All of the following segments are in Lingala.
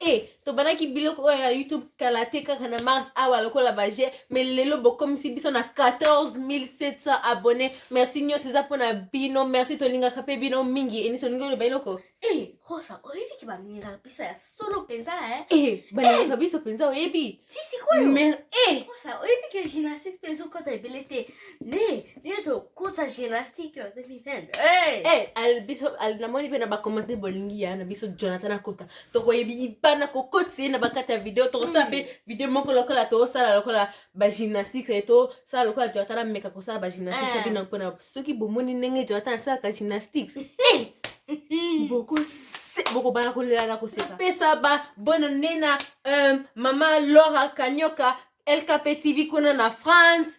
e tobandaki biloko oyo ya youtube kala te kaka na mars awa lokola baje me lelo bokomisi biso na 14700 abonné merci nyonso eza mpona bino merci tolingaka mpe bino mingi enisi olingi oloba eloko e rosa oyebi ke balingaka biso ya solo mpenza e balingaka biso mpenza oyebi sisikoyo rosa oyebi ke gymnastique mpe ezokota ebele te nde nde tokosa gymnastique na 2020 namoni mpe na bakomante bolingi ya na biso jonathan akota tokoyebana kokotisa ye na bakati ya video tokosala mpe hmm. video moko lokola tosala lokola bagymnastiques e tosala lokola jonathan ameka kosala bagymnastiques eh. abina mpona soki bomoni ndenge jonathan asalaka gymnastiques eh. hmm. bokobana kolela na koseka pesa ba bona nena euh, mama lora kanyoka lkp tv kuna na france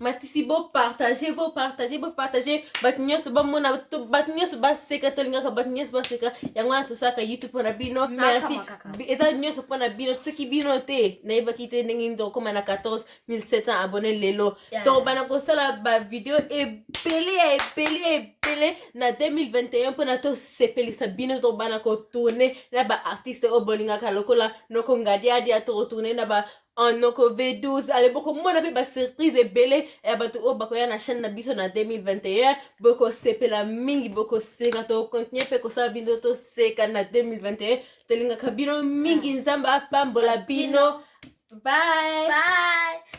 matisi bopartage bopartage bopartage bato nyonso bamona bato nyonso baseka tolingaka bato nyonso baseka yango wana tosalaka youtube mpo na bino merci eza nyonso mpo na bino soki bino te nayebaki te ndenge nini tokokoma na 14700 abonne lelo tokobana kosala bavideo ebele ya ebele ya ebele na 2021 mpona tosepelisa bino tokobana kotourne na baartiste oyo bolingaka lokola noko ngadiadia tokotourne na ba en noko v12 ale bokomona mpe basurprise ebele ya bato oyo bakoya na chaîne na biso na 2021 bokosepela mingi bokoseka tokontinue mpe kosala bino toseka na 2021 tolingaka bino mingi nzambe apambola bino bye, bye.